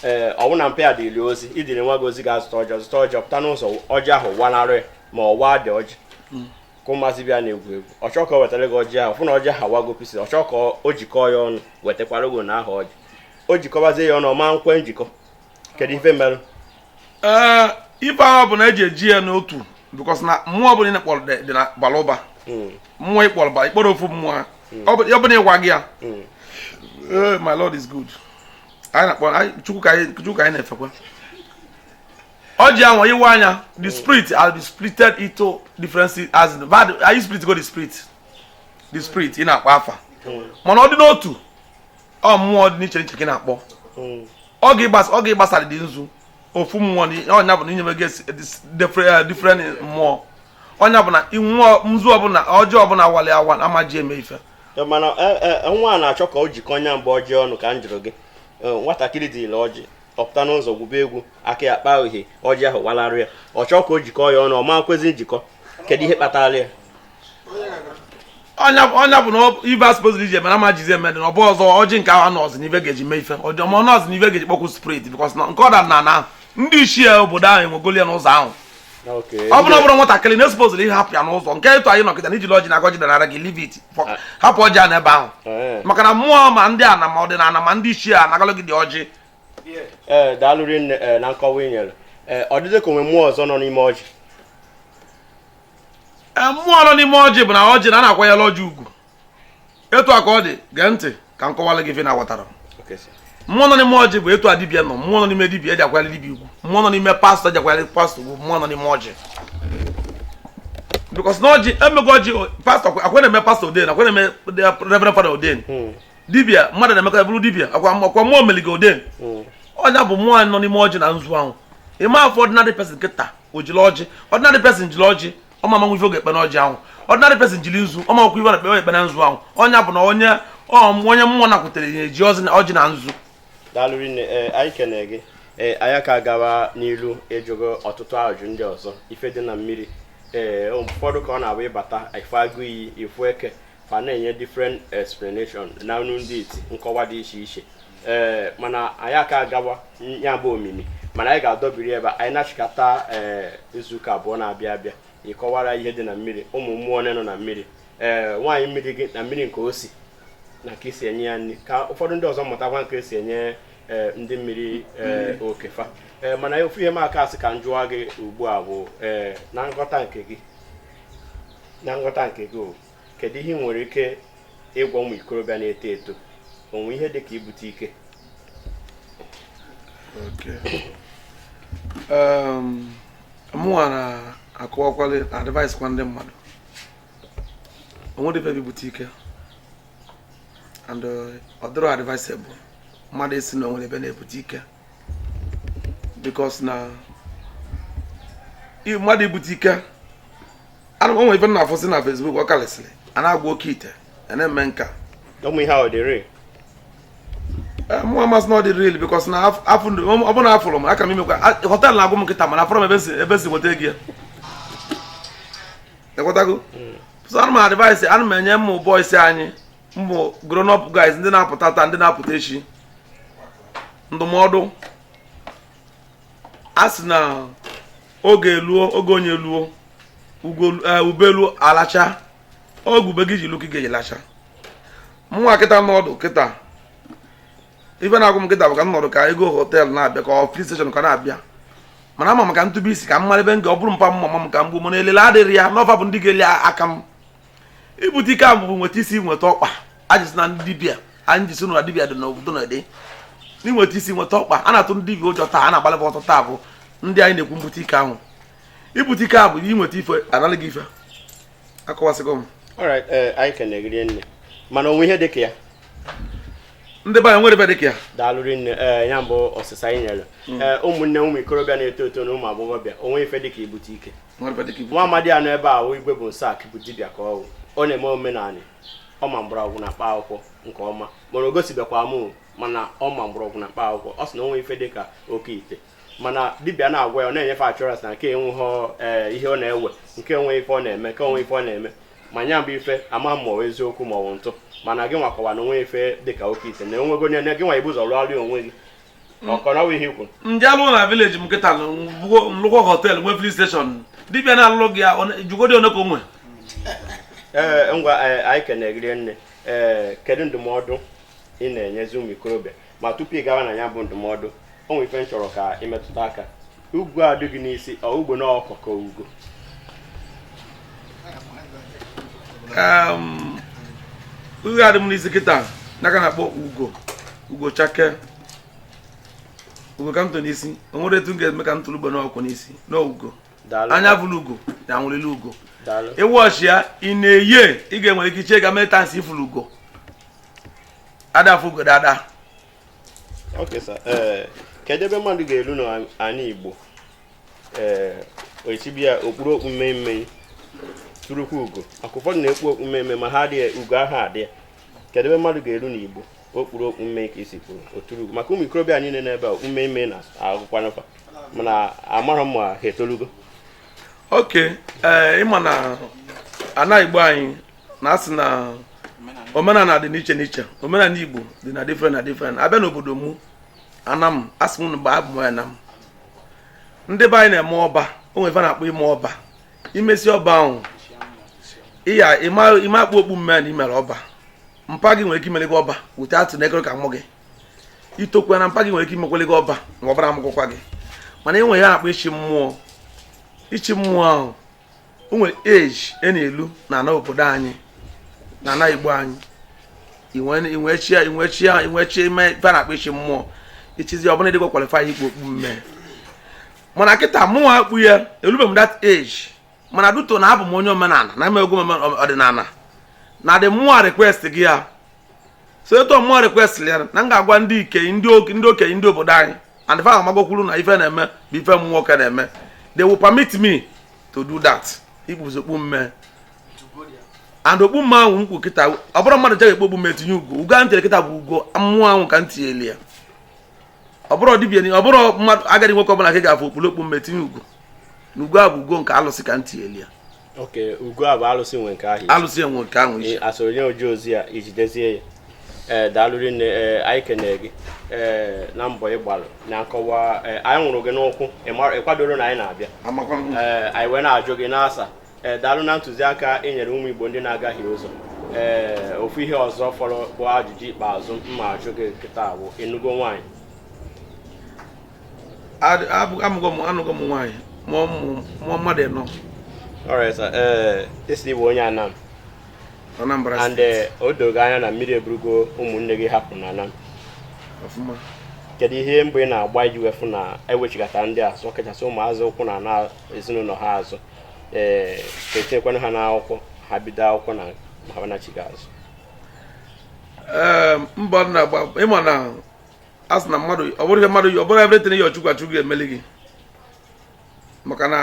ee eh, ọwụ na mpa ya dịrị ozi i diri nwa gị ozi gaa zụta ọjị zụta ọjị pụta n'ụzọ ọjị ahụ wanarị ma ọ waa dị ọjị hmm. ka ụmụazị bịa na-egwu egwu ọ chọọ ka ọ wetara gị ọjị ahụ fụ na ọjị ahụ awago pieces ọ chọọ ka o jikọọ ya ọnụ wetakwara gị na aha ọjị o jikọbazie ya ọnụ ọ ma nkwe njikọ kedu ife merụ ee ife ahụ bụ na eji eji ya n'otu because na mmụọ ọbụla ị na-ekpọrọ dị dị na balụ ụba hmm. mmụọ ịkpọrọ ba ịkpọrọ ofu mmụọ hmm. ọ bụ na ị waa ya hmm. ee my lord is good anyị na-akpọ chukwu ka anyị na-efekwa ọjị anwa ị waa nya the spirit has been splitted into different aspect anyị split go the spirit the spirit ị na-akpọ afa mana ọ dị n'otu ọ mmụọ dị n'iche n'iche ka ị na-akpọ hmm. oge ị gbasara dị nzu ofu mmụọ ọ nya bụ na inyebe gị eh, different mmụọ ọ nya bụ na mmụọ nzu ọbụla ọjị ọbụla awali awa a ma eji eme ife eh, mana eh, nwa a na-achọ ka o jikọ nya mgbe ọjị ọnụ ka m jụrụ gị nwatakịrị jiri ọjị ọ pụta n'ụzọ gwube egwu aka ya akpahie ọjị ahụ walarịa ọ chọọ ka o jikọọ ya ọnụ ọ ma kwezi njikọ kedu ihe kpatara ya ọ nya bụ na ive a suppose iji emere a ma jizi emere na ọ bụ ọzọ ọjị nke ahụ anọzi n'ive ga-eji mee ife ọzọ ma nọzi n'ive ga-eji kpọkwu spirit because na nke ọ daa n'ana ndị ichie obodo ahụ ewegolu ya n'ụzọ ahụ ọ bụrụ bụrụ nwatakịrị na ị suppose ịhapụ ya n'ụzọ nke etu anyị nọ kịta na i jili ọjị na-agọ ọjị dara gị leave it ah. hapụ ọjị a n'ebe ahụ eh. maka na mmụọ ma ndị ana ma ọdịnala ma ndị ichie anagalụ gị dị ọjị eh, daalụ rinne eh, na nkọwa i nyere ọ dịdị ka o nwe mmụọ ọzọ nọ n'ime ọjị mmụọ nọ n'ime ọjị bụ na ọjị na a na-akwanyere ọjị ugwu etu a ka ọ dị gee ntị ka m kọwara gị ife m ghọtara mmụọ nọ n'ime ọjị bụ etu a dibịa nọ mmụọ nọ n'ime dibịa eji akwanyere dibịa ugwu mmụọ nọ n'ime pastor eji akwanyere pastor ugwu mmụọ nọ n'ime ọjị because na ọjị emego ọjị pastor ọkwa a na-eme pastor ordain ọkwa a na-eme reverend father ordain hmm. dibịa mmadụ na-eme ka ọ bụrụ dibịa ọkwa ọkwa mmụọ meligo ordain hmm. ọ nya bụ mmụọ nọ n'ime ọjị na nzu ahụ ị ma afụ ordinary person kịta o jiri ọjị ordinary person jiri ọjị ọ ma amanwu ife ọ ga-ekpe n'ọjị ahụ ordinary person jiri nzu ọ ma amanwu ife na-ekpe ekpe na nzu ahụ ọ nya bụ na onye ọm onye mmụọ nakwutere ya eji ọjị na- ọjị na nzu daalụ rinne ee anyị kene gị ee anyị ka gawa n'ilu ịjụ gị ọtụtụ ajụjụ ndị ọzọ ife dị na mmiri ee ụfọdụ ka ọ na-abụ ị bata ị fụ agụ iyi ị fụ eke fa na-enye different explanation na ọnụ ndị isi nkọwa dị iche iche ee mana anyị aka agawa ya bụ omimi mana anyị ga-adọbiri ebe a anyị na-achịkọta ee izuụka abụọ na-abịa abịa ị kọwara ihe dị na mmiri ụmụ mmụọ ole nọ na mmiri ee nwaanyị mmiri dị na mmiri nke o si na ka esi enye ya nri ka ụfọdụ ndị ọzọ mụtakwa ka esi enye ee ndị mmiri ee oke fa ee mana ofu ihe m aka asị ka m jụọ gị ugbu a bụ ee na nghọta nke gị na nghọta nke gị o kedu ihe ị nwere ike ịgwa ụmụ ikorobịa na-eto eto o nwe ihe dị ka ibute ike um, mụnwa na-akọwakwalị na-advice kwa ndị mmadụ o nwerọ ebe ibute ike and uh, ọ dịrọ advisable mmadụ ịsị na o nwere ebe a na-ebute ike because na mmadụ ibute ike ana m o nwe ife ị na-afụsị na Facebook ọ kalịsịlị a na-agwọ oke ite a na-eme nke a ụmụ ihe ahụ dị real Eh, mụ ama asị na ọ dị real because na afụ ndị ọ bụrụ na afụrụ m aka m imekwa a- họtel na-agụ m kịta mana afụrọ m ebe si ebe si nweta ego ya ekwetago so ana m advice ana m enye ụmụ boys anyị ụmụ grown up guys ndị na-apụta taa ndị na-apụta echi ndụmọdụ a sị na oge eluo oge onye luo eh, ube luo a lachaa oge ube gị ji luo ka ị ga-eji lachaa mụnwa kịta nọdụ kịta ife na-agụ m kịta bụ ka m nọrọ ka ego họtel na-abịa ka ọ filling station ka na-abịa mana ama m ka m tụbe isi ka m mara ebe m ga ọ bụrụ mpa mma m ka m gbuo mana elele adịrọ ya na ọ fa bụ ndị ga-eli aka m ibute ike ahụ bụ nweta isi nweta ọkpa ajụsị na ndị dibịa anyị jisi na dibịa dị n'obodo na dị n'inweta isi nweta ọkpa a na-atụ ndị dibịa ụjọ taa a na-agbalịba ọsọ taa bụ ndị anyị na-ekwu mbute ike ahụ ibute ike bụ inweta ife a nara gị ife akọwasịgo m eh, anyị kene gị rinne mana o nwe ihe dị ka ya ndị be anyị nwere ebe dị ka ya daalụ rinne eh, ya bụ ọsịsa anyị nyere hmm. eh, ụmụnne ụmụ ikorobịa na-eto eto na ụmụ agbọghọbịa o nwe ife dị ka ibute ike nwa amadi a nọ ebe a Igwe Bonsac bụ dibịa ka ọ bụ ọ na-eme omenanị ọ ma mgbọrọgwụ na mkpa akwụkwọ nke ọma mana o gosibekwa m mana ọ ma mgbọrọgwụ na mkpa akwụkwọ ọ sị na o nwe ife dị ka oke ite mana dibịa na-agwọ ya ọ na-enye ife a chọrọ sị na nke enwerọ eh, ihe ọ na-ewe nke enwe ife ọ na-eme ka o nwe ife ọ na-eme ma nya bụ ife ama ma ọ eziokwu ma ọ bụ ntụ mana gịnwa kọwa na o nwe ife dị ka oke ite na o nwego nye gịnwa ibu ụzọ rụọrụ onwe gị m je alụ na village m kịta m lụkwuo họtel nwe filling station dibịa na-alụ gị jụgodi one ka o nwe ee ngwa anyị kene gị rinne ee kedu ndụmọdụ ị na-enyezi ụmụ ikorobịa ma tupu ị gawa na nya bụ ndụmọdụ o nwere ife m chọrọ ka i metụta aka ugo a dị gị n'isi ọ ugo na ọkwa ka ugo um, ihe a dị m n'isi kịta n'aka na-akpọ ugo ugo chakee ugo ka m tụ n'isi o nwere etu m ga-eme ka m tụrụ ugo n'okpu n'isi na ugo anya fụrụ ugo na anwụrịla ugo ịwụ ọchị ya ị na-eye ị ga-enwere ike iche ga mee tansị ị fụrọ ugo a da afụ ugo daa daa Okay, sir. Eh, kedu ebe mmadụ ga-elu n'ala Igbo ee eh, o si bịa o kpuru okpu mmemme turukwu ugo maka ụfọdụ na-ekpu okpu mmemme ma ha adịghị ugo ahụ adị ya kedu ebe mmadụ ga-elu n'Igbo o kpuru okpu mme ka i si kwuru o turu ugo maka ụmụ ikorobịa niile n'ebe a okpu mmemme na-agụkwanụ fa mana amara m ma ha etolugo okay eh, ị ma na ana Igbo anyị na-asị na omenala dị n'iche n'iche omenala Igbo dị na different na different a bịa n'obodo mụ Anam asị m mgbe abụ m onye Anam ndị be anyị na-eme ọba o nwere ife a na-akpọ ime ọba i mesịa ọba ahụ ị ya ị ma-ekpu okpu mme na i mere ọba mpa gị nwere ike imere gị ọba wute atụ na ekere ka mụ gị i tokwa na mpa gị nwere ike imekwele gị ọba ma ọbara amụkwụkwa gị mana e nwere ife a na-akpọ ichi mmụọ ichi mmụọ ahụ o nwere age ị na-elu n'ana obodo anyị n'ana Igbo anyị i wee i wee chie ime ife a na-akpọ ichi mmụọ i chizie ọ bụ na ị dịkwa qualify ikpu okpu mme mana kịta mụnwa kpu ya elube m that age mana due to na abụ m onye omenala na-emekwu ọdịnala na ndị mmụọ requestigo ya so etu mmụọ request ya na m ga-agwa ndị ike ndị okenye ndị obodo anyị and fa amagokwuru na ife m na-eme bụ ife m nwoke na-eme they will permit me to do that i kpuzie okpu mme and okpu mme ahụ m kpu kịta ọ bụrọ mmadụ je-ekpu okpu mme tinye ugo ugo a m tiri kịta bụ ugo mmụọ ahụ ka m tinyeli ya ọ bụrọ dibịa ọ bụrọ mmadụ agadi nwoke ọbụla ka ị ga-afụ o kpuru okpu mme tinye ugo na ugo a bụ ugo nke alụsị ka m tinyeli ya okay ugo a bụ alụsị nwe nke ahụ alụsị nwe nke ahụ isi a sọrọ onye o ji ozi ya i jidezie ya ee daalụ rinne ee anyị kenere gị ee na mbọ ị gbalụ na nkọwa ee anyị nwụrụ gị n'ụkwụ ị mara- ị kwadorọ na anyị na-abịa amakwa m ee anyị wee na-ajụ gị ị na-asa ee daalụ na ntụziaka ị nyere ụmụ Igbo ndị na-agahie ụzọ ee ofu ihe ọzọ fọrọ bụ ajụjụ ikpeazụ m ma-ajụ gị kịta wụ ị nụgo nwaanyị amụgo m anụgo m nwaanyị mụọ mmadụ ịnọ eh, ị sị ị bụ onye Anam Anambra and eh, o dogo anya na mmiri eburugo ụmụnne gị hapụ n'Anam kedu ihe mbọ ị na-agba iji wee fụ na e wechigata ndị azụ ọkachasị ụmụazị ụkwụ na ana ezinụlọ ha azụ ee eh, ka e tinyekwanụ ha n'akwụkwọ ha bido akwụkwọ na ha nachiga azụ mbọ m na-agba ị ma na a sị na mmadụ ọ bụrọ ihe mmadụ ọ bụrọ everything ihe Chukwu Chukwu ga-emeli gị maka na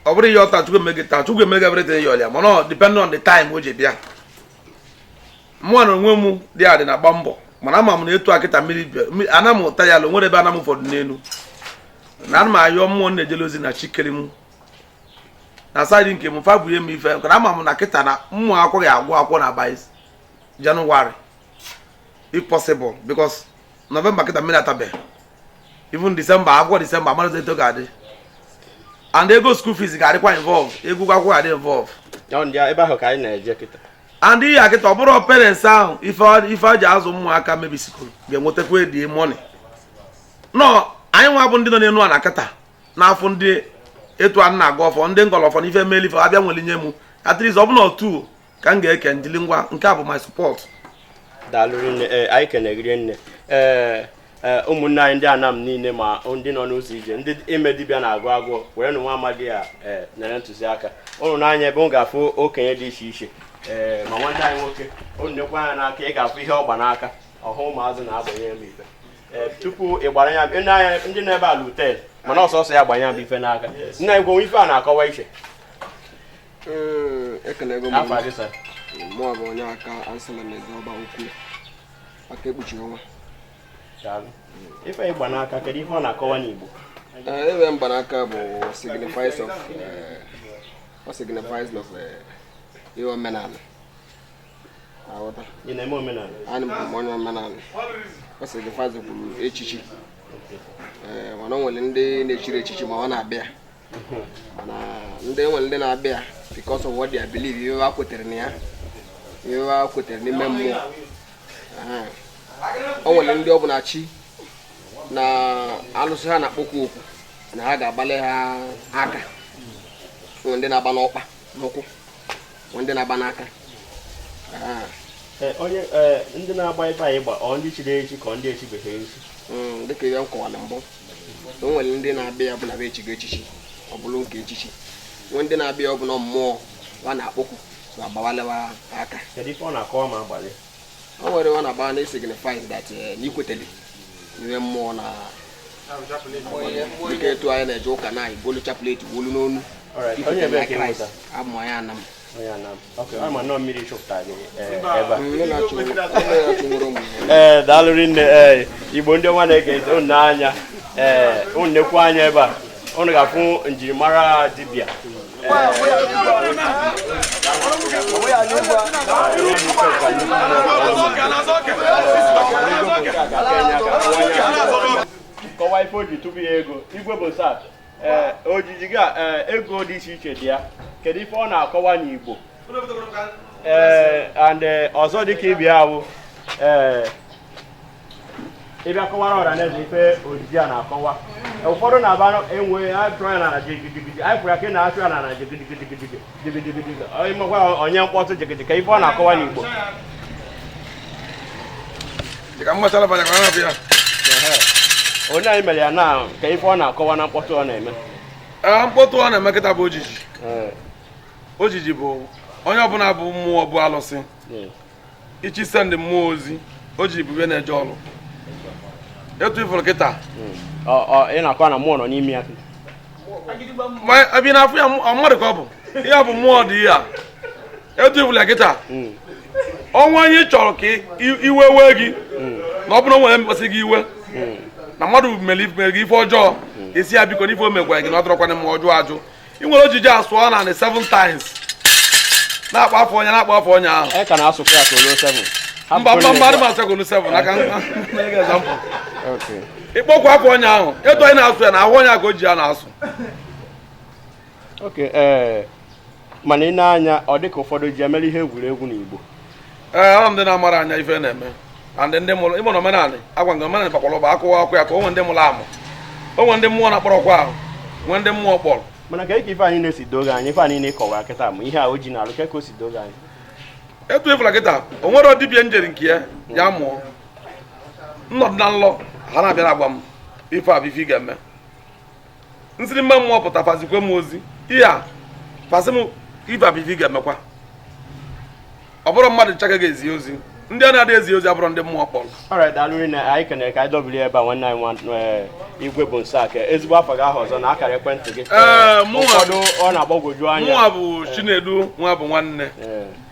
ọ bụrọ ị yọọ taa Chukwu emee gị taa Chukwu emee gị everything ị yọlụ ya mana ọ depend on the time o ji bịa mụnwa na onwe m dị adị na-agba mbọ mana ama m na etu a kịta mmiri Anam ụta ya ala nwere ebe Anam ụfọdụ n'elu na ana m ayọ mmụọ m na-ejele ozi na chi kere m na side nke m fa bunye m ife na ama m na kịta na ụmụ akwụkwọ agụ akwụkwọ na by January if possible because november kịta mmiri atabeghị even december akwụkwọ december amarazi etu ọ ga-adị and ego school fees ga-adịkwa involve ego ụgwọ akwụkwọ ga-adị involve Ọ ndị a- ebe ahụ ka anyị na-eje kịta and ihe a kịta ọ bụrụ parents ahụ ife ọ- ife a ji azụ ụmụaka maybe school ga-ewetakwa the money nọ anyị nwa bụ ndị nọ n'elu ana kịta na-afụ ndị etu a na-agọ ọfọ ndị ngọlọfọ na ife meli ife abịa nwere nye mụ at least ọ bụ na otu ka m ga-eke ndili ngwa nke a bụ my support daalụ rinne ee anyị kene gị rinne ee ee ụmụnne anyị ndị anam niile ma ndị nọ n'ụzọ ije ndị ime dibịa na-agụ agụọ were nụ nwa amadi a ee nyere ntụziaka ụnụ nee anya ebe m ga-afụ okenye dị iche iche ee ma nwanne anyị nwoke ụnụ nekwa anya n'aka ị ga-afụ ihe ọ gba n'aka ọhụ ụmụazụ na-agbanye ya ife ee tupu ị gbara ya ndị anya ndị na-ebe ala utel mana ọsọsọ ya gbanye ya bụ ife n'aka nna anyị gwanwe ife a na-akọwa iche ekelego m Afa gị, sir. mụ bụ Onyeka ansala na eze ọba ukwu aka ekpuchi ọnwa Daalụ. Ife ị gba n'aka kedu ife ọ na-akọwa n'Igbo? Ee, ife m gba n'aka bụ signifies of eh, ọ signifies of eh, ihe omenala aghọta Ị na-eme omenala? abụ m onye omenala ọ signifies kwa echichi Ee, mana o nwere ndị na-echighị echichi ma ọ na-agba ya ndị nwere ndị na-agba ya because of what they believe ihe ha kwetere na ya ihe ha kwetere n'ime mmụọ o nwere ndị ọ bụ na chi na alụsị ha na-akpọkwu okwu na ha ga-agbalị ha aka nwere ndị na-agba n'ọkpa n'ụkwụ nwere ndị na-agba n'aka e, onye e, ndị na-agba ife a ị gba ọ ndị chiri echi ka ọ ndị echibeghị echi hmm, dịka ihe m kọwara mbụ o nwere ndị na-agba ya ọ bụ na e chigo echichi ọ bụrụ nke echichi nwee ndị na-agba ya ọ bụ na mmụọ wa na-akpọkwu ma gbawalị wa aka kedu ife ọ na-akọwa ma agbalị o nwere ọ na-agba na signifies that eh, na i kwetele n'ihe mmụọ na dịka etu anyị na-eje ụka na i golu chaplet wolu n'onu Alright, onye ikwetele ebee na ka ị kraịst mụta? abụ m onye anam ee daalụ rinne ee igbo ndị ọma na-ege ntị unu nee anya ee unu nekwu anya ebe a unu ga-afụ njirimara dibịa kọwa ife o ji tupu ya ego igwe bụ sat ee ojiji gị a ee, ego dị iche iche dị ya kedu ife ọ na-akọwa n'igbo ee and ee, ọzọ dịka ị bịa ahụ ee ị bịa kọwara ọra na eze ife ojiji a na-akọwa ụfọdụ na-aba enwe atụ ya na ala jigijigiji anyị fụrụ ya ka ị na-atụ ya na ala jigijigiji onye mkpọtụ jigijigi ka ife ọ na-akọwa n'Igbo onye anyị mere ya na ka ife ọ na-akọwa na mkpọtụ ọ na-eme ah, mkpọtụ ọ na-eme kịta bụ ojiji eh. ojiji bụ onye ọbụla bụ mmụọ bụ alụsị hmm. ị chọọ isend mmụọ ozi o ji ibube na-eje ọrụ etu ifuru kịta ị na-akọ na mmụọ nọ n'ime ya ebe na-afụ ya mmadụ ka ọ bụ ihe bụ mmụọ dị ya etu ifuru ya kịta hmm. o nwee onye chọrọ ka iwe wee gị hmm. na ọ bụrụ nwere mkpasị gị iwe hmm. na mmadụ mere gị ife ọjọọ ị sị ya biko n'ife o megwara gị na ọ dịrọkwa mma ọ jụọ ajụ i were ojiji asụọ n'ana seven times na-akpọ afa onye na-akpọ afa onye ahụ e ka na-asụkwa ya ka o luo seven mba mba mba adị m asị ka o luo seven aka ịkpọkwa afa onye ahụ etu anyị na-asụ ya na ahụ onye a ka o ji ya na-asụ eh, mana ị nee anya ọ dịka ụfọdụ ji emere ihe egwuregwu n'Igbo ee ọ ndị na-amara anya ife na-eme and ndị mụrụ ịmụ na omenala agwa nke omenala bakwara ụba akụwa akwụ ya ka o nwee ndị mụrụ amụ o nwee ndị mmụọ na-akpọrọ oku ahụ nwee ndị mmụọ kpọrọ mana ka ike ife anyị na-esi doge anyị ife anyị na-ekọwa kịta ma ihe a o ji na-alụ ka ka o si doge anyị etu ifulu kịta o nwere dibịa m jere nke ya ya mụ anọdụ n'ụlọ ha na-abịa agwa m ife a bụ ife ị ga-eme m sịrị mba mmụọ pụta fa zikwe m ozi ihe a fa zi m ife a bụ ife ị ga-emekwa ọ bụrọ mmadụ ncha ka a ga-ezi ozi ndị a na-adị ezi ozi abụrọ ndị mmụọ kpọrọ alright daalụ na anyị kenere ka anyị dọbiri ebe a nwanne anyị eh, Igwe Bonsac ezigbo afa gị ahụ ọzọ na akara ekwentị gị eh, ụfọdụ ọ na-agbagwoju anya mụnwa bụ eh. Chinedu Nwabụnwanne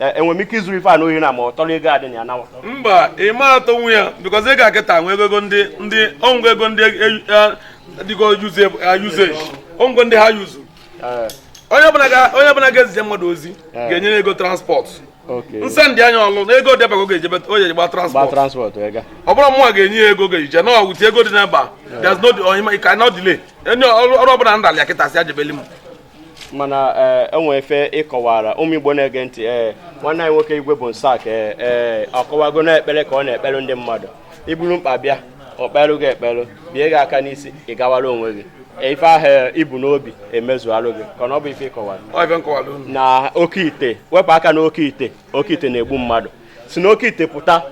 enwere m ike izuru ife a n'ohi na ma ọ tọrọ ego adị na ya nawa mba ị ma atụ nwa ya because ego a kịta nwa ego ndị ndị ọngwa ego ndị dịgo usage ọngwa ndị ha use onye ọbụla ga-ezije mmadụ ozi ga-enye ego transport nse ndị anya ọlụ na ego dịbago ga-ejebe onye gba transport ọ bụrụ mmụọ ga-enye ya ego ga-eje na ọgwụti ego dị n'ebe a there's no delay onye ọrụ ọbụla ndalị akịtasị ajebeli m mana ee eh, o nwe ife ị kọwara ụmụ igbo na-ege ntị ee eh, nwanne anyị nwoke Igwe Bonsac ee eh, ọkọwago na ekpere ka ọ na-ekpere ndị mmadụ i buru mkpa bịa o kpeere gị ekpere bie gị aka n'isi ị gawara onwe gị ife ahụ i bu n'obi emezualụ gị ka ọ bụ ife ị kọwara na oke ite wepụ aka n'oke ite oke ite na-egbu mmadụ si n'oke ite pụta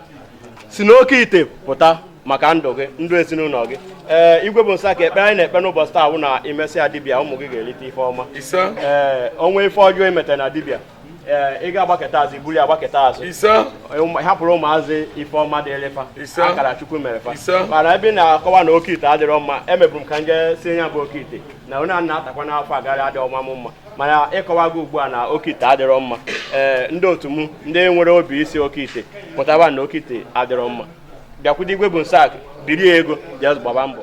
si n'oke ite pụta maka ndụ gị ndụ ezinụlọ gị ee eh, Igwe Bonsac ekpere anyị na-ekpe n'ụbọchị taa wụ na i mesịa dibịa ụmụ gị ga-erite ife ọma ee eh, o nwee ife ọjọọ i metara na dibịa ee eh, ị ga-agbaketa azụ i buru ya agbaketa azụ hapụrụ ụmụazị ife ọma dị ịrị fa akara chukwu mere fa mana ebe ị na-akọwa na oke ite adịrọ mma emeburu m ka m je sị ya bụ oke ite na onye a na-atakwa n'afọ agaghị adị ọma m mma mana ịkọwago ugbu a na oke ite adịrọ mma ee ndị otu m ndị nwere obi isi oke ite pụtaba na oke ite adịrọ mma bịakwudo Igwe Bonsac biri ego bịa gbaba mbọ